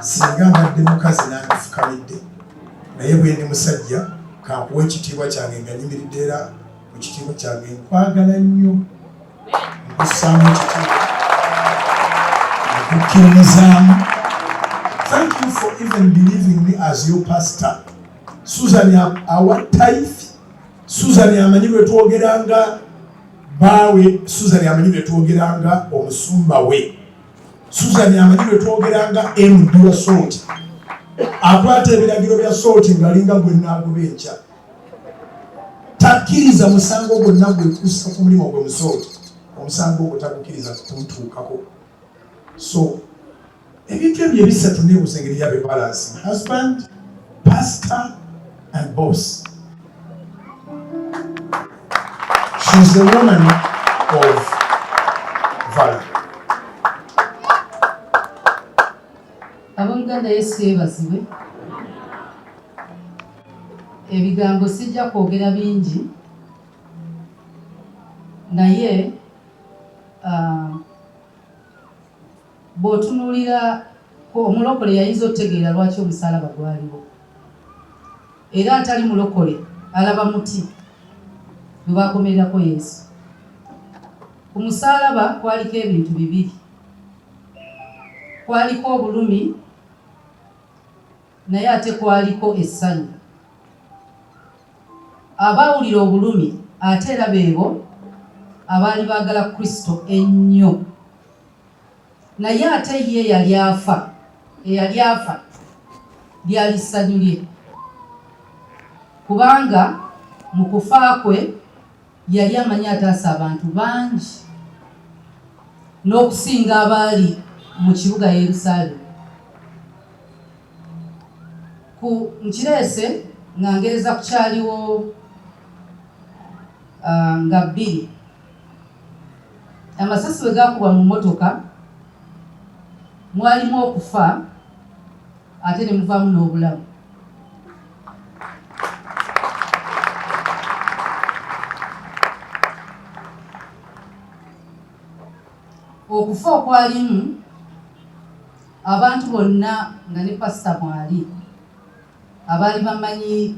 singa mbadde mukazi nandifukamidde naye bwendi musajja kankuwa ekitiibwa kyange nga nyimiridde era mu kitiibwa kyange nkwagala nnyo nkussaamu ekitiibwa okukkiririzaamu thank you for even believing me as your pastor susan awa taife susan amanyi lwe twogeranga baawe susan amanyi lwe twogeranga omusumba we Susan amanyi bwe twogeranga md wa sooti akwata ebiragiro bya sooti ng'alinga gwe naagoba enkya takkiriza musango gwonna gwe kussa ku mulimu gwe musooti omusango ogwo tagukkiriza kutuutuukako so ebintu ebyo ebisatu nebusa engeri yabe balance husband pastor and boss She's a woman of value. Ab'oluganda Yesu yeebazibwe. Ebigambo sijja kwogera bingi naye uh, Bw'otunuulira ku omulokole y'ayinza otegeera lwaki omusaalaba gwaliwo. Era atali mulokole alaba muti gwe baakomererako Yesu. Ku musaalaba kwaliko ebintu bibiri. Kwaliko obulumi naye ate kwaliko essanyu. Abaawulira obulumi ate era beebo abaali baagala Kristo ennyo. Naye ate ye eyali afa, eyali afa lyali ssanyu lye, kubanga mu kufa kwe yali amanyi ataasa abantu bangi n'okusinga abaali mu kibuga Yerusaalemi. Ku nkireese nga ngereza ku kyaliwo ah, nga bbiri Amasasi bwe gaakubwa mu mmotoka mwalimu okufa ate ne muvaamu n'obulamu. Okufa okwalimu abantu bonna nga ne pasita mwali. Abaali bammanyi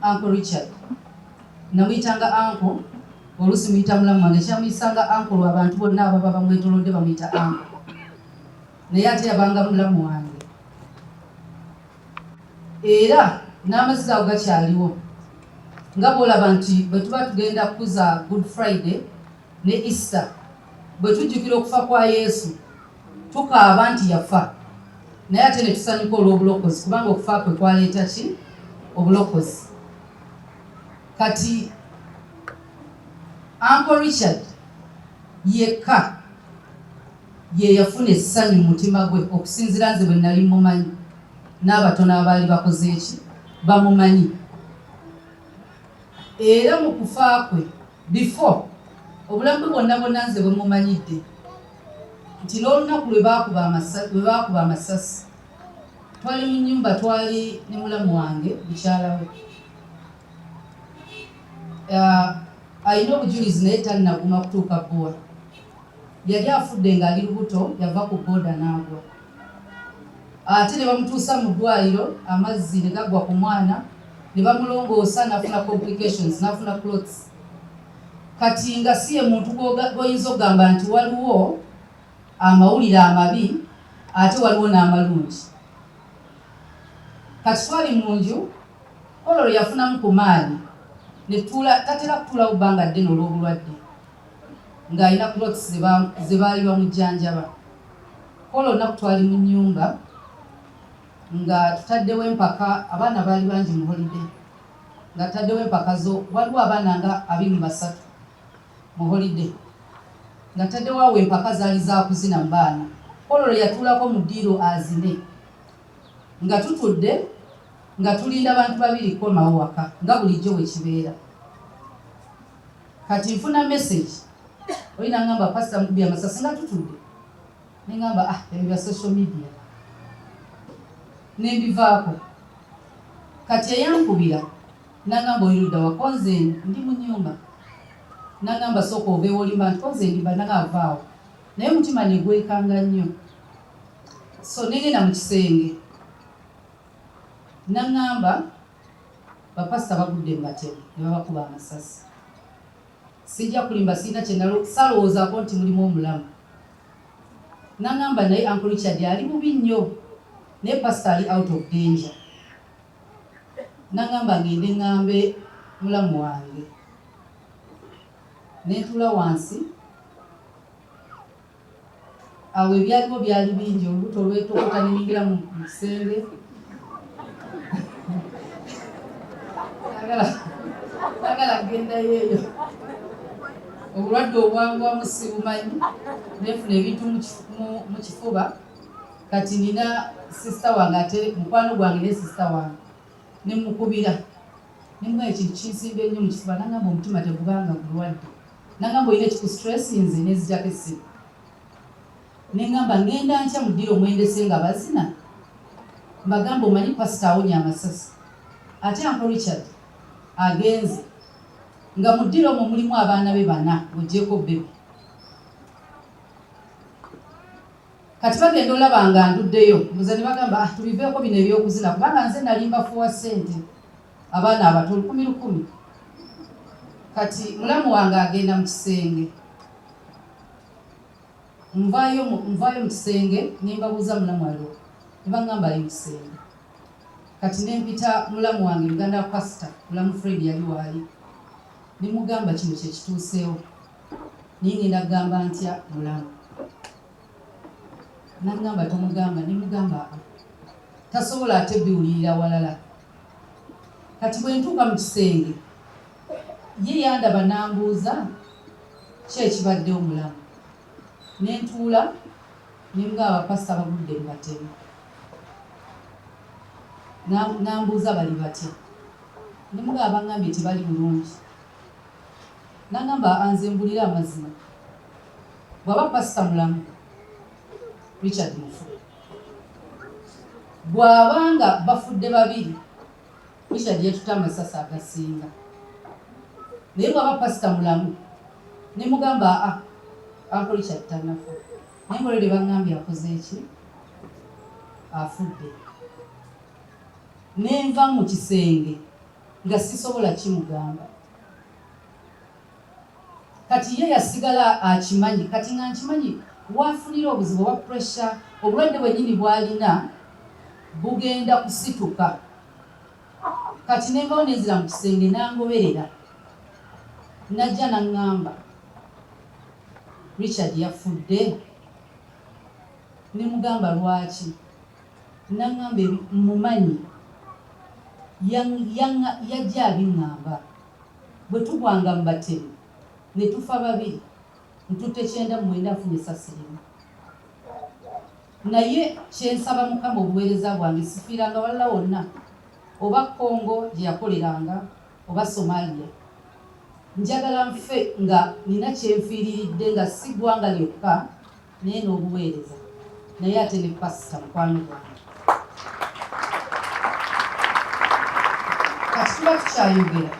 Uncle Richard namuyitanga Uncle, oluusi muyita mulamu wange. Ekyamuyisanga Uncle lwa bantu bonna ababa bamwetolodde bamuyita Uncle, naye ate yabanga mulamu wange era n'amaziga ago gakyaliwo nga bwolaba nti bwe tuba tugenda kukuza Good Friday ne Easter bwe tujjukira okufa kwa Yesu tukaaba nti yafa naye ate ne tusanyuka olw'obulokozi kubanga okufa kwe kwaleeta ki obulokozi kati anko richard yekka ye yafuna essanyu mu mutima gwe okusinzira nze bwe nali mumanyi n'abatono abaali bakoze eki bamumanyi era mu kufa kwe Before, obulamu bwe bwonna bwonna nze bwe mumanyidde nti n'olunaku lwe baakuba amasasi twali mu nyumba twali ne mulamu wange mukyala we alina obujulizi naye tannaguma kutuuka bbuwa yali afudde ng'ali lubuto yava ku booda n'agwa ate ne bamutuusa mu ddwaliro amazzi ne gaggwa ku mwana ne bamulongoosa n'afuna complications n'afuna clots kati nga si ye muntu gwoyinza okugamba nti waliwo amawulire amabi ate waliwo n'amalungi kati twali mu nju kololo yafunamu ku maali netuula tatera kutuulawo bbanga ddene olw'obulwadde ng'alina clots ze baali bamujjanjaba Kwolwo olunaku twali mu nnyumba nga tutaddewo empaka, abaana baali bangi mu holiday nga tutaddewo empaka zo, waliwo abaana nga abiri mu basatu mu holiday nga tutaddewo awo empaka zaali za kuzina mu baana. Kwolwo lwe yatuulako mu ddiiro azine nga tutudde nga tulinda bantu babiri kukomawo waka nga bulijjo bwe kibeera. Kati nfuna message oli nangamba pastor mukubye amasasi nga tutudde nengamba ah ebyo bya social media nembivaako kati eyankubira nangamba oyiruda wakonze ndi mu nyumba nangamba sooka oveewo olimba nti konze ndimba nagaavaawo naye omutima negwekanga nnyo so negenda mu kisenge nangamba Bapasita bagudde mu batemu ne babakuba amasasi. Sijja kulimba sirina kye salowoozaako nti mulimu omulamu. Nangamba naye Uncle Richard ali bubi nnyo naye pasita ali out of danger. Nangamba ngende ngambe mulamu wange. Nentuula wansi. Awo ebyaliwo byali bingi, olubuto lwetokota ne nyingira mu kisenge sagala kugendayo eyo obulwadde obwanguwamu sibumanyi nefuna ebintu mu kifuba kati nina sisita wange ate mukwano gwange ne sisita wange nemukubira nemuga ekintu kinsimba ennyo mu kifuba nangamba omutima tegubanga gulwadde nagamba olina ekikustressinze nenzijako essimu nengamba ngenda ntya mudira omwendese nga bazina mbagamba omanyi pasita awonya amasasi ate anko richard agenze nga mudira omwo mulimu abaana be bana ogyeko bebi kati bagenda olaba nga nduddeyo mbuza ne bagamba ah, tubiveeko bino ebyokuzina kubanga nze nalimba fuwa ssente abaana abato lukumi lukumi kati mulamu wange agenda mu kisenge nvayo nvayo mu kisenge nembabuuza mulamu alo nebagamba ali mu kisenge kati nempita mulamu wange muganda wa pasita mulamu fred yali waali nemugamba kino kyekituuseewo naye ngenda kugamba ntya mulamu nagamba tomugamba nemugamba tasobola ate biwulirira walala Kati bwe ntuuka mu kisenge, ye yandaba n'ambuuza ki ekibadde omulamu ne ntuula ne mugamba bapasita bagudde mu batemu. N'ambuuza bali batya ne mugamba bangambye tebali bulungi. N'agamba anze mbulire amazima, bw'aba pasita mulamu Richard Mufu bw'aba nga bafudde babiri Richard yatutte amasasi agasinga naye bw'aba pasita mulamu ne mugamba a ah, anko Richard tanafa naye mulere bangambye akoze eki afudde nenva mu kisenge nga sisobola kimugamba Kati ye yasigala akimanyi kati nga nkimanyi wafunira obuzibu oba pressure obulwadde bwenyini bwalina bugenda kusituka kati nenvawo nenzira mu kisenge nangoberera najja nangamba Richard yafudde nemugamba lwaki nangamba mumanyi yajja abingamba Bwe tugwanga mu batemu ne tufa babiri, ntutte kyenda mu mwenda nfunye essasi limu. Naye kye nsaba Mukama obuweereza bwange sifiiranga walala wonna oba Congo gye yakoleranga oba Somalia. Njagala nfe nga nnina kye nfiiriridde nga si ggwanga lyokka naye n'obuweereza naye ate ne pasita mukwano gwange kati tuba tukyayogera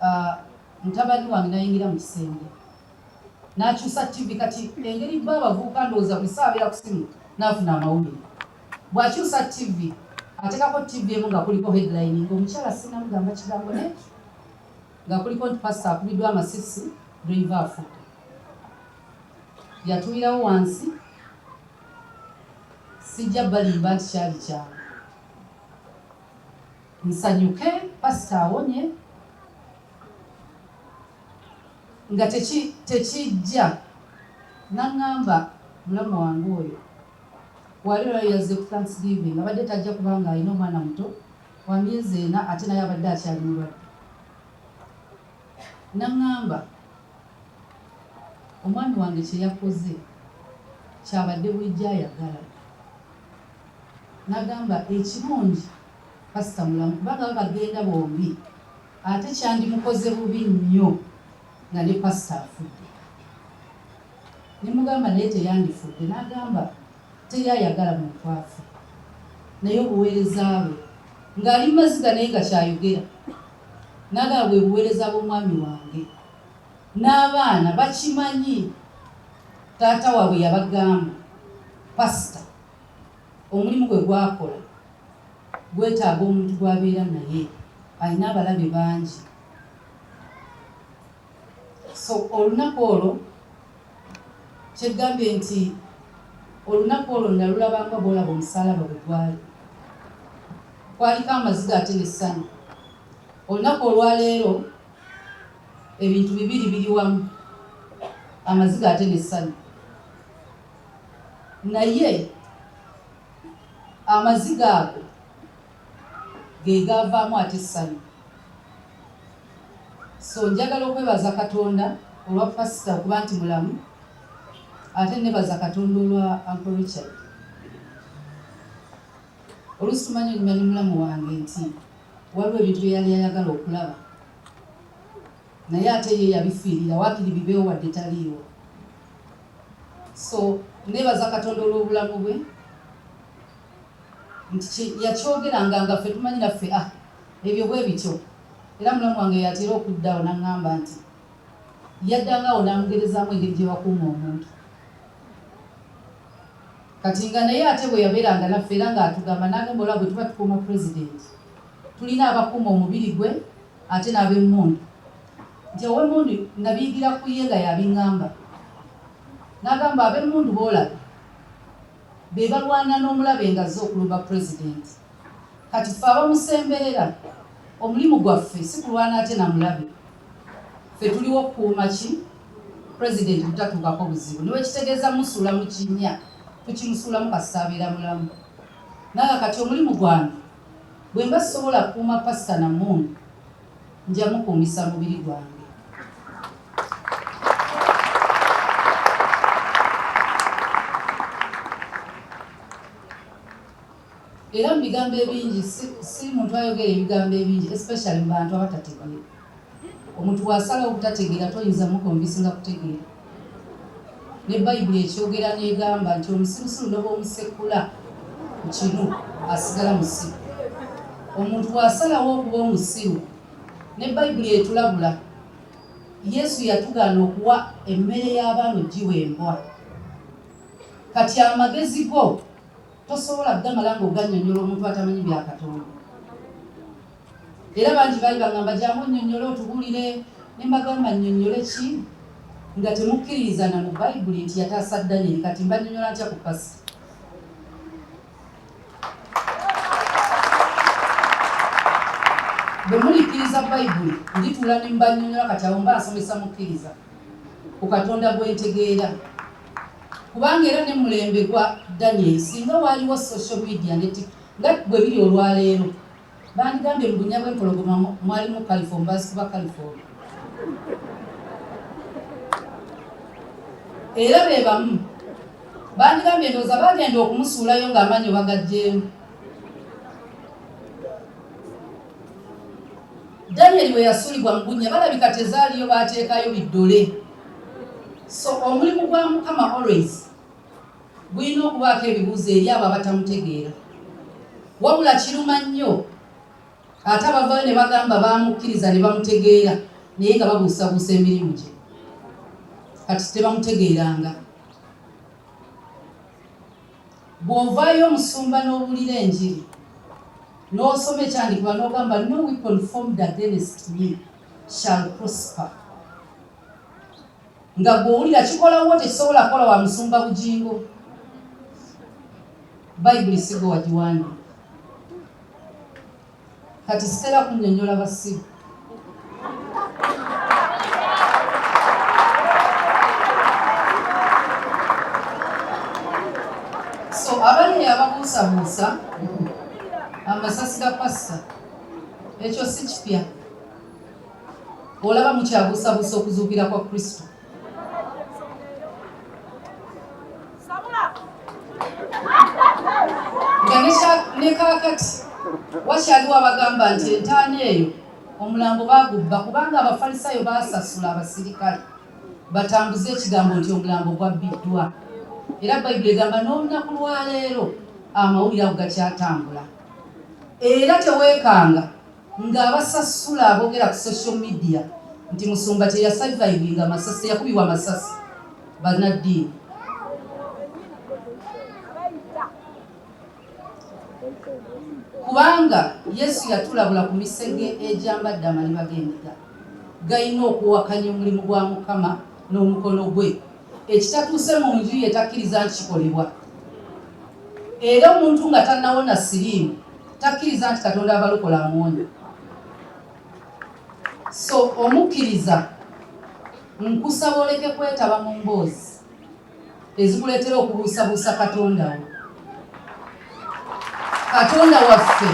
ah, mutabani wange nayingira mu kisenge n'akyusa ttivi kati engeri ba abavubuka ndowooza buli ssaawa abeera ku simu n'afuna amawulire bw'akyusa ttivi atekako ttivi emu nga kuliko headline ng'omukyala sinamugamba kigambo ne nga kuliko nti Pasita akubiddwa amasisi, ddeyiva afudde. Yatulirawo wansi, sijja balimba nti kyali kyangu. Nsanyuke Pasita awonye nga tekijja nangamba mulamu wange oyo Wali lwali yazze ku Thanksgiving abadde tajja kubanga alina omwana muto wa myezi ena ate naye abadde akyali mulwadde. N'aŋŋamba omwami wange kye yakoze ky'abadde bulijjo ayagala. N'agamba ekirungi pasita mulamu kubanga baba bagenda bombi ate kyandimukoze bubi nnyo. nga ne pastor afudde nemugamba naye teyandifudde nagamba teri ayagala muntu afe naye obuweereza bwe ng'ali mu maziga naye nga kyayogera nagamba bwe buweereza bw'omwami wange n'abaana bakimanyi taata waabwe yabagamba pasita omulimu gwe gwakola gwetaaga omuntu gwabeera naye alina abalabe bangi so olunaku olwo kyegambye nti olunaku olwo nalulaba nga bwolaba omusalaba bwe gwali kwaliko amaziga ate nessanyu olunaku olwaleero ebintu bibiri biri wamu amaziga ate nessanyu naye amaziga ago ge gaavaamu ate essanyu. So njagala okwebaza Katonda olwa Pasita okuba nti mulamu ate nebaza Katonda olwa Uncle Richard. Oluusi tumanyi onyuma ne mulamu wange nti waliwo ebintu bye yali ayagala okulaba naye ate ye yabifiirira wakiri bibeewo wadde taliiwo so nebaza katonda olw'obulamu bwe nti kye yakyogeranga nga ffe tumanyi naffe ah ebyo bwe bityo era mulamu wange y'atera okudda awo n'aŋŋamba nti yaddanga awo n'amugerezaamu engeri gye bakuuma omuntu kati nga naye ate bwe yabeeranga naffe era ng'atugamba n'agamba olaba bwe tuba tukuuma pulezidenti tulina abakuuma omubiri gwe ate n'ab'emmundu nti ow'emmundu nabiyigira ku ye nga yabiŋŋamba n'agamba ab'emmundu boolaba bebalwana nomulabe nga azze okulumba president kati ffe abamusemberera omulimu gwaffe sikulwana ate namulabe ffe tuliwo kukuuma ki president butatuukako buzibu newekitegeeza musuula mukinya tukimusuulamu kasita abeera mulamu nanga kati omulimu gwange bwemba sisobola kuuma pasita namundu nja mukuumisa mubiri gwange. Era mu bigambo ebingi, si muntu ayogera ebigambo ebingi especially mu bantu abatategeera. Omuntu bw'asalawo obutategeera toyinza mukonvinsinga kutegeera. Ne Bayibuli ekyogera n'egamba nti omusirusiru ne bw'omusekula ku kinu asigala musiru. Omuntu bw'asalawo okuba omusiru, ne Bayibuli etulabula. Yesu yatugaana okuwa emmere y'abaana ogiwa embwa. Kati amagezi go tosobola gamala ng'ogannyonnyola omuntu atamanyi bya Katonda. Era bangi baali bangamba gyamu onyonyole otubulire nembagamba nyonyole ki nga temukkiririza na mu bayibuli nti yataasa Danyeri kati mbanyonyola ntya ku pasita bwe mulikkiriza bayibuli ndituula ne mbanyonyola kati awo mba nsomesa mukkiriza ku katonda gwentegeera kubanga era ne mulembe gwa Danyeri singa waaliwo social media neti nga bwe biri olwaleero Bandigambye mu bunnya bw'empologoma mwalimu kalifoomu baazikuba kalifoomu. Era be bamu bandigambye ndowooza baagenda okumusuulayo ng'amaanyi obagaggyeemu. Daniel bwe yasulibwa mu bunnya balabika tezaaliyo baateekayo biddole. So omulimu gwa Mukama always. Bulina okubaako ebibuuzo eri abo abatamutegeera. Wabula kiruma nnyo ate abavaayo ne bagamba baamukkiriza ne bamutegeera naye nga babuusabuusa emirimu gye kati tebamutegeeranga. Bw'ovaayo omusumba n'owulira enjiri n'osoma ekyandikibwa n'ogamba no weapon formed against me shall prosper. nga gwowulira kikola wo tekisobola kukola wa musumba bugingo bayibuli sigo wagiwandi kati sitera kunyonyola basiru so abaliyo ababuusabuusa amasasi ga pasta ekyo si kipya Olaba mukyabuusabuusa okuzuukira kwa Kristo. Nga ne kaakati wakyaliwo abagamba nti entaana eyo omulambo baagubba kubanga Abafalisaayo baasasula abasirikale batambuze ekigambo nti omulambo gwabbiddwa. Era Bayibuli egamba n'olunaku lwaleero amawulire ago gakyatambula. Era teweekanga. Nga abasasula abogera ku social media nti musumba teya survivinga masasi teyakubibwa masasi banaddiini kubanga yesu yatulabula ku misege egyambadde amaliba g'endiga galina okuwakanya omulimu gwa mukama n'omukono gwe ekitatuuse mu nju ye takkiriza nti kikolebwa era omuntu nga tannawona siriimu takkiriza nti katonda abalokola amuwonya so omukkiriza nkusaba oleke kwetaba mu mboozi ezikuleetera okubuusabuusa katonda wo katonda waffe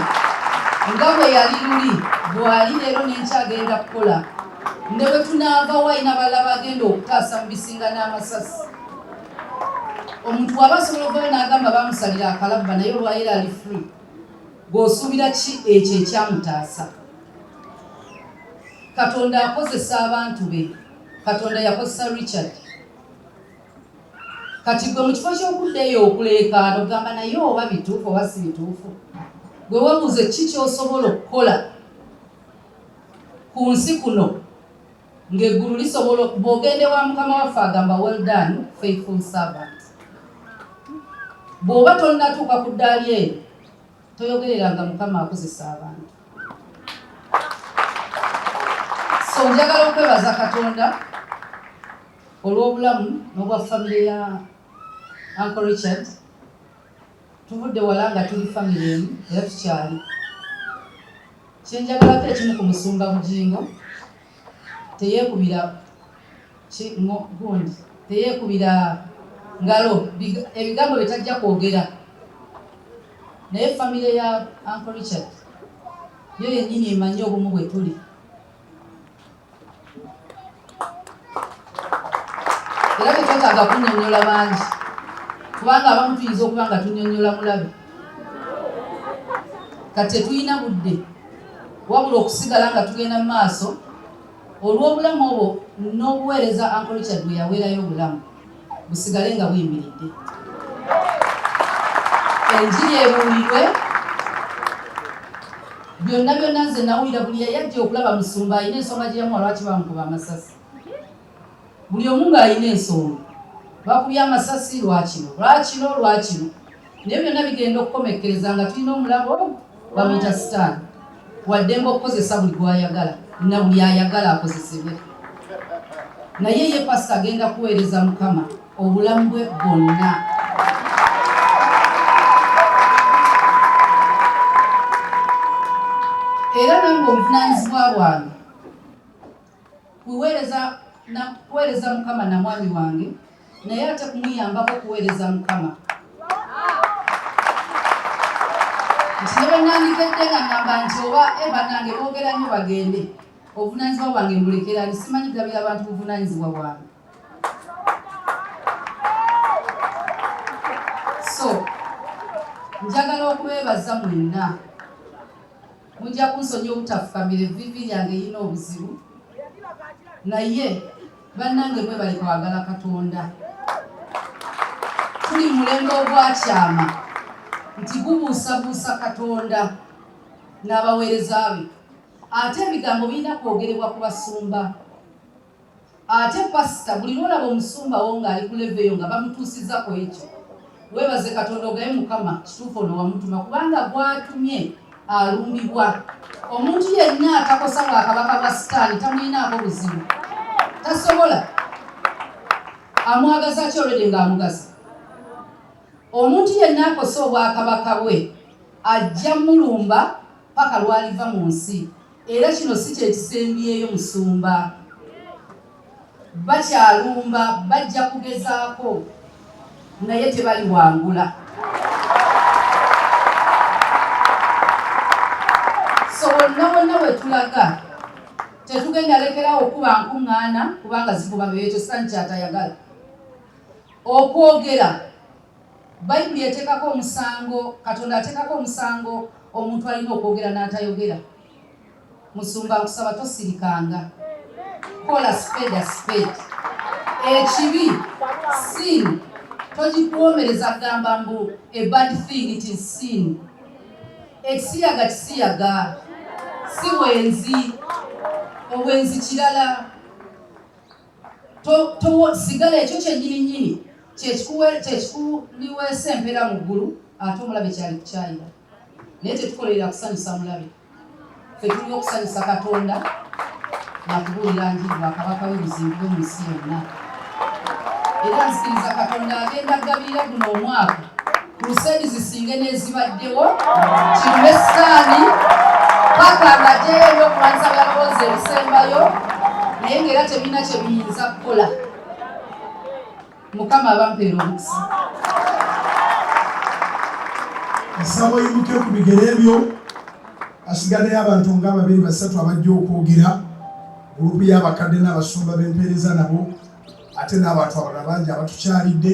nga bwe yali luli bwali leero nenkyagenda kukola ne bwe tunaava wayina balala bagenda okutaasa mu bisinga n'amasasi omuntu waba asobola okuvayo n'agamba bamusalira akalabba naye olwayira ali free gweosuubira ki ekyo ekyamutaasa katonda akozesa abantu be katonda yakozesa richard kati gwe mu kifo ky'okudda eyo okuleekaana ogamba naye oba bituufu oba si bituufu gwe webuuze ki kyosobola okukola ku nsi kuno ng'eggulu lisobola bw'ogenda ewa mukama waffe agamba well done faithful servant bw'oba tonnatuuka ku ddaali eyo toyogereranga mukama akozesa abantu so njagala okwebaza katonda Olw'obulamu n'obwa famire ya Uncle Richard, tuvudde wala nga tuli famire emu era tukyali. Kye njagalako ekimu ku Musumba Bugingo, teyeekubira ki ngo gundi teyeekubira ngalo ebigambo bye tajja kwogera naye famire ya Uncle Richard yo yennyini emanyi obumu bwe tuli. era tetwetaaga kunyonyola bangi kubanga abamu tuyinza okuba nga tunyonyola mulabe kati tetulina budde wabula okusigala nga tugenda mu maaso olw'obulamu obwo n'obuweereza ankolikyad bwe yaweerayo obulamu busigale nga buyimiridde enjiri ebuulirwe byonna byonna nze nawulira buli yayajja okulaba musumba alina ensonga gye yamuwa lwaki bamukuba amasasi buli omu ng'alina ensonga bakubye amasasi lwakino lwakino lwakino naye byonna bigenda okukomekkereza nga tulina omulabo bamuyita sitaani waddemba okukozesa buli gwayagala na buli ayagala akozesebwe naye ye pasita agenda kuweereza mukama obulamu bwe bwonna era nange obuvunanyizibwa bwange Kuweereza na kuweereza Mukama na mwami wange naye ate kumuyambako kuweereza Mukama. Nti ne bwe nandikedde nga ngamba nti oba e bannange boogera nnyo bagende obuvunaanyizibwa bwange mbulekera ni simanyi gabira abantu buvunaanyizibwa bwange so njagala okubeebaza mwenna Mujja kunsonyiwa obutafukamira evviivi lyange lirina obuzibu naye bannange mwebale kwagala Katonda. Tuli mu mulembe ogwakyama nti gubuusabuusa Katonda n'abaweereza be ate ebigambo birina kwogerebwa ku basumba. Ate pastor buli lwolaba omusumba wo nga ali ku level eyo nga bamutuusiza ku ekyo webaze katonda ogaye mukama kituufu ono wamutuma kubanga gwatumye alumbibwa omuntu yenna atakosa bwa kabaka bwa sitaani tamulinaako buzibu tasobola amwagaza ki olwede nga amugaza omuntu yenna akosa obwakabaka bwe ajja mulumba paka lwaliva mu nsi Era kino si kye kisembyeyo musumba. Bakyalumba, bajja kugezaako naye tebaliwangula. So wonna wonna we tulaga tetugenda lekerawo okukuba nkuŋŋaana kubanga zivuba beeyo, ekyo Sitaani ky'atayagala. Okwogera. Bayibuli eteekako omusango, Katonda ateekako omusango omuntu alina okwogera n'atayogera. Musumba nkusaba tosirikanga, kola spade a spade. Ekibi sin togikuwoomereza kugamba mbu a bad thing it is sin. Ekisiyaga kisiyaga, si bwenzi. Obwenzi kirala. sigala ekyo kyennyininyini kyekikuliweesa empeera mu ggulu ate omulabe kyali kukyayira naye tetukolerera kusanyusa mulabe fe tulina okusanyusa katonda nakubuulira njiri bwakabaka webuzimbibwe mu nsi yonna era nzikiriza katonda agenda agabirira guno omwaka Crusade zisinge n'ezibaddewo kirime sitaani paka nga gyeyo okulwanyisa byalowooza ebisembayo naye ng'era tebirina kye biyinza kukola mukama abampeera omukisa nsaba oyimuke ku bigere ebyo asigaddeyo abantu nga babiri basatu abajja okwogera gulupu y'abakadde n'abasumba b'empeereza nabo ate n'abantu abalala bangi abatukyalidde